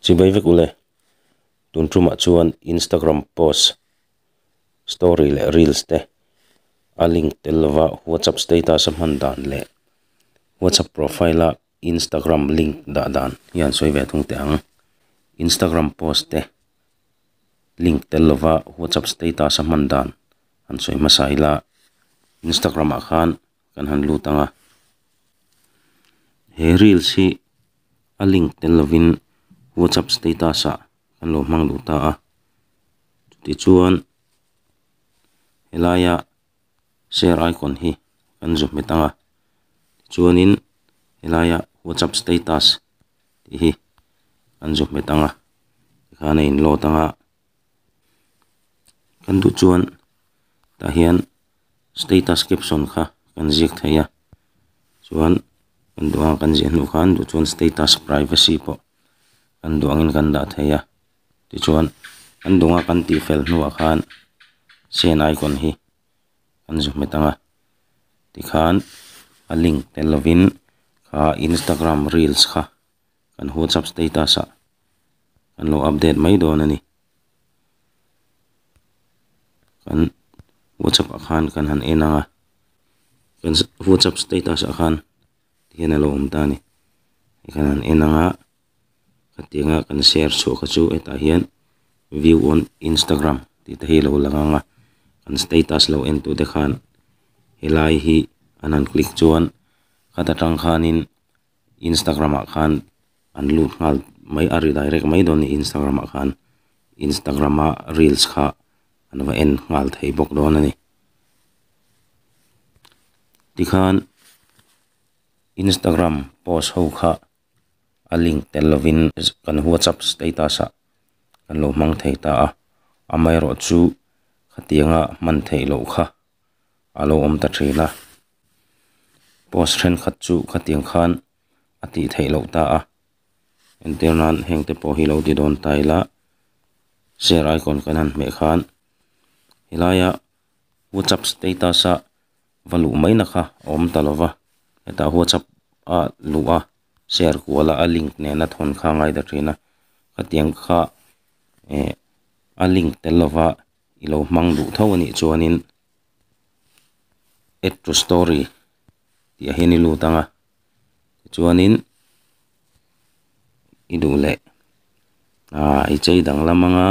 Chi mai vek ule, tun tumah chuan Instagram post, story leh reels te a link tel lova WhatsApp status a hman dan leh WhatsApp profile a Instagram link dah dan hian sawi ve thung teh ang. Instagram post te link tel lova WhatsApp status a hman dan han sawi hmasa ila, Instagram ah khan kan han lut ang a, he reels hi a link tel lovin whatsapp status ah kan lo hmang duh ta a, tichuan helaia share icon hi kan zuk hmet ang a, chuanin helaia whatsapp status tih hi kan zuk hmet ang a, tikhan a in load ang a. kan duh chuan tah hian status caption kha kan ziak thei a chuan kan duh ang kan ziah hnu khan duh chuan status privacy pawh kan duh angin kan dah thei a tichuan kan duh nga kan tih fel hnuah khan send icon hi kan zui hmet ang a tikhan a link tel lovin aa instagram reels kha-- kan whatsapp status ah kan lo update mai dawn a ni kan whatsapp ah khan kan han en ang a kan whatsapp status ah khan hian a lo awm ta a ni kan han en ang a hetianga kan share chhuah kha chu hetah hian view on instagram tih te hi a lo lang ang a kan status lo en tur te khan helai hi an han click chuan hata tang khanin-- Instagram ah khan an lut nghal mai a redirect mai dawn nih Instagram ah khan Instagram a reels kha an va en nghal thei bawk dawn a ni. Tikhan Instagram post ho kha a link tel lovin kan WhatsApp status ah kan lo hmang thei ta a, amaherawhchu khatianga hman theih loh kha a lo awm ta thin a, post thenkhat chu khatiang khan a tih theih loh ta a, entir nan hengte pawh hi lo ti dawn ta ila share icon kan han hmeh khan helaia whatsapp status a va luh mai na kha a awm ta lova, hetah whatsapp a luh a share kual a a link nena thawn kha a ngai ta thin a, khatiang kha eh a link tel lova. i lo hmang duh tho a nih chuanin add to story tih ah hian i lut ang a tichuanin i duh leh aaa i chei dang lam anga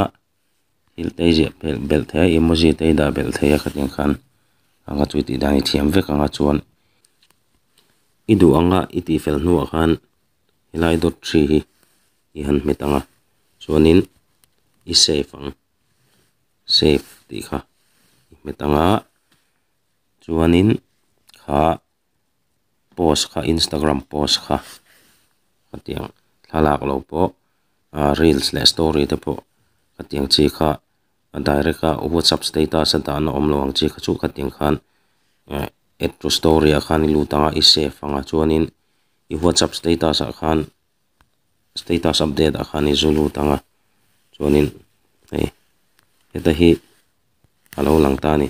thil te i ziah belh belh thei a emoji te i dah belh thei a khatin khan anga chu i tih dan i thiam vek ang a chuan i duh anga i tih fel hnuah khan helai dawt ṭhi hi i han hmet ang a chuanin i save ang. save tih kha i hmet ang a chuanin kha post kha instagram post kha hetiang thla lak lo pawh aa reels leh story te pawh hetiang chi kha a direct a whatsapp status a dan a awm lo ang chi kha chu khatiang khan ehh add to story ah khan i lut ang a i save ang a chuanin i whatsapp status ah khan-- status update ah khan i zu lut ang a, chuanin hei heta hi a lo lang ta a ni,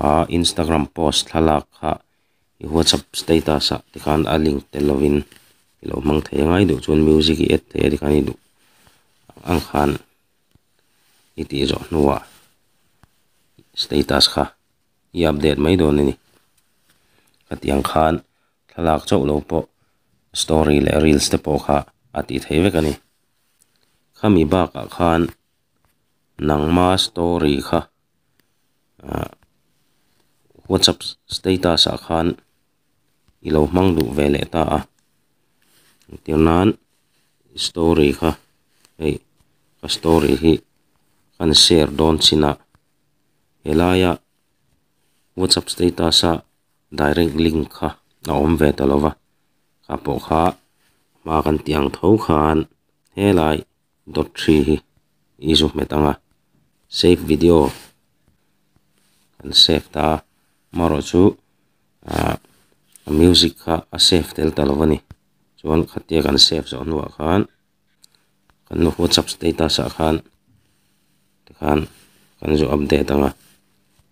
a Instagram post thlalak kha i whatsapp status ah te khan a link tel lovin i lo hmang thei a ngai duh chuan music i add thei a tikhan i duh ang khan i tih zawh hnuah status kha i update mai dawn a ni, hetiang khan thlalak chauh lo pawh story leh reels te pawh kha a tih theih vek a ni. Khami bakah khan nangma story kha ah whatsapp status ah khan i lo hmang duh ve leh ta a, tir nan story kha hei ka story hi khan share dawn chin a, he laia whatsapp status a direct link kha a awm ve ta lova kha pawh kha hma kan tih ang tho khan helai dawt ṭhi hi i zu hmet anga save video kan save ta a amaherawhchu chu ah music kha a save tel ta lova ni chuan khatia kan save zawh hnuah khan-- kan nu whatsapp status ah khan tikhan kan zu update anga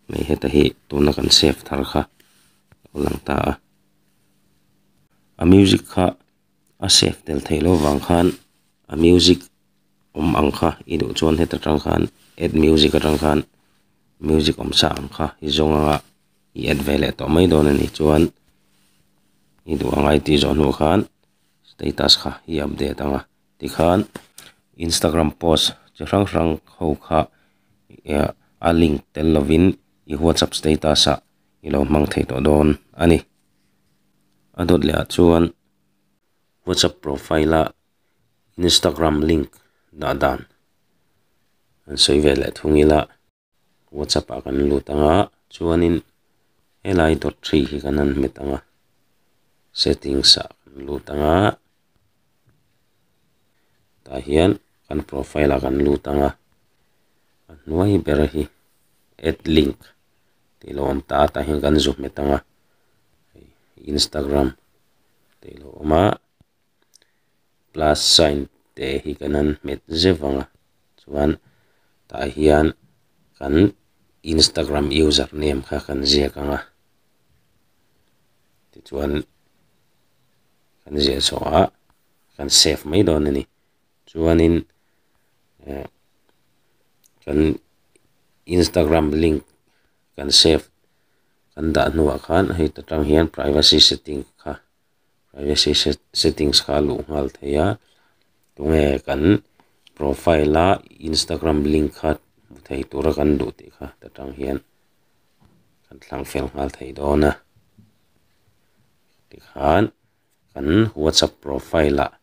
hmeichhe heta hi tuna kan save thar kha alo lang ta a a music kha a save tel thei lo vang khan a music awm ang kha i duh chuan heta tang khan add music atang khan music awm sa ang kha i zawng anga i add ve leh tawh mai dawn a nih chuan i duh angai tih zawh hnu khan-- Status kha i update ang a, tikhan Instagram post chi hrang hrang ho kha ehh a link tel lovin i WhatsApp status ah i lo hmang thei tawh dawn a ni. A dawt leh ah chuan WhatsApp profile ah Instagram link dah dan an sawi ve leh thung ila. WhatsApp ah kan lut ang a, chuanin helai dawt ṭhi hi kan han hmet ang a, settings ah kan lut ang a, tah hian kan profile ah kan lut ang a, a hnuai ber hi add link tih loh awm ta a, tah hian kan zu hmet ang a, Instagram tih loh awm a. plus sign te hi ka nan hmet zeuh vang a chuan tah hian kan instagram user name kha kan ziak ang a tichuan kan ziah chhuah a kan save mai dawn a ni chuanin ehh kan instagram link kan save kan dah hnuah khan heta tang hian privacy setting kha-- privacy settings kha a luh nghal thei a, tunge kan profile a Instagram link kha hmu thei tura kan duh tih kha ta tang hian kan thlang fel nghal thei dawn a, tikhan kan WhatsApp profile ah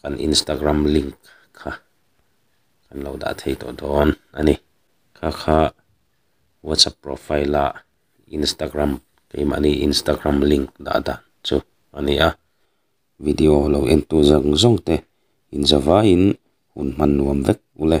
kan Instagram link kha kan lo dah thei tawh dawn a ni, kha kha WhatsApp profile ah Instagram keimahni Instagram link dah dan chu a ni a, video lo en tu zawng zawng te inzawvaiin hun hman nuam vek u le.